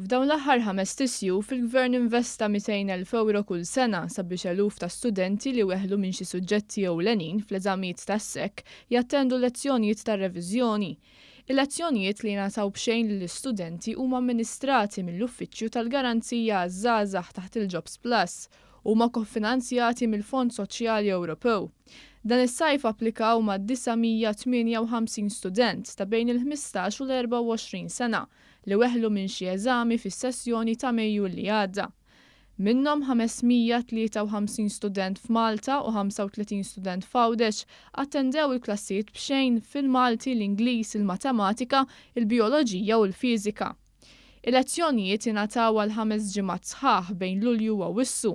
F'dawn l-aħħar ħames tisjuf, il-Gvern investa 200,000 ewro kull sena sabiex eluf ta' studenti li weħlu minn xi suġġetti ewlenin fl-eżamijiet tas-SEC jattendu l-lezzjonijiet tar-reviżjoni. Il-lezzjonijiet li jingħataw b'xejn lill-istudenti huma amministrati mill-Uffiċċju tal-Garanzija għaż-Żgħażagħ taħt il-Jobs Plus Huma kofinanzjati mill-Fond Soċjali Ewropew. Dan is-sajf applikaw ma' 958 student ta' bejn il-ħmistax u l-24 sena li weħlu minn xi eżami fis-sessjoni ta' Mejju li għadda. Minnhom 553 student f'Malta u 35 student f'Għawdex attendew il-klassijiet b'xejn fil-Malti, l-Ingliż, il-Matematika, il-Bijoloġija u l-Fiżika. Il-lezzjonijiet ingħataw għal ħames ġimgħat sħaħ bejn Lulju u Awwissu,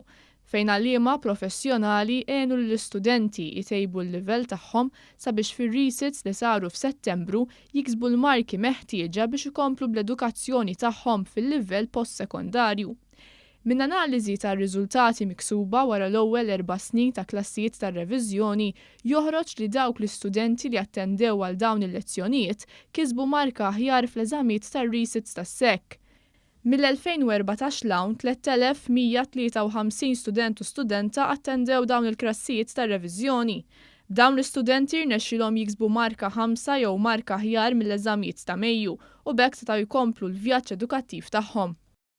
fejn għalliema professjonali għenu lill-istudenti jtejbu l-livell tagħhom sabiex fir-resits li saru f'Settembru jiksbu l-marki meħtieġa biex ikomplu bl-edukazzjoni tagħhom fil-livell post-sekondarju. Minn analiżi tar-riżultati miksuba wara l-ewwel erba' snin ta' klassijiet tar-reviżjoni joħroġ li dawk l-istudenti li attendew għal dawn il-lezzjonijiet kisbu marka aħjar fl-eżamiet tar-resits tas-SEC. Mill-2014 'l hawn 3,153 student u studenta attendew dawn il-klassijiet tar-reviżjoni. B'dawn l-istudenti rnexxilhom jiksbu marka ħamsa jew marka aħjar mill-eżamiet ta' Mejju u b'hekk setgħu jkomplu l-vjaġġ edukattiv tagħhom.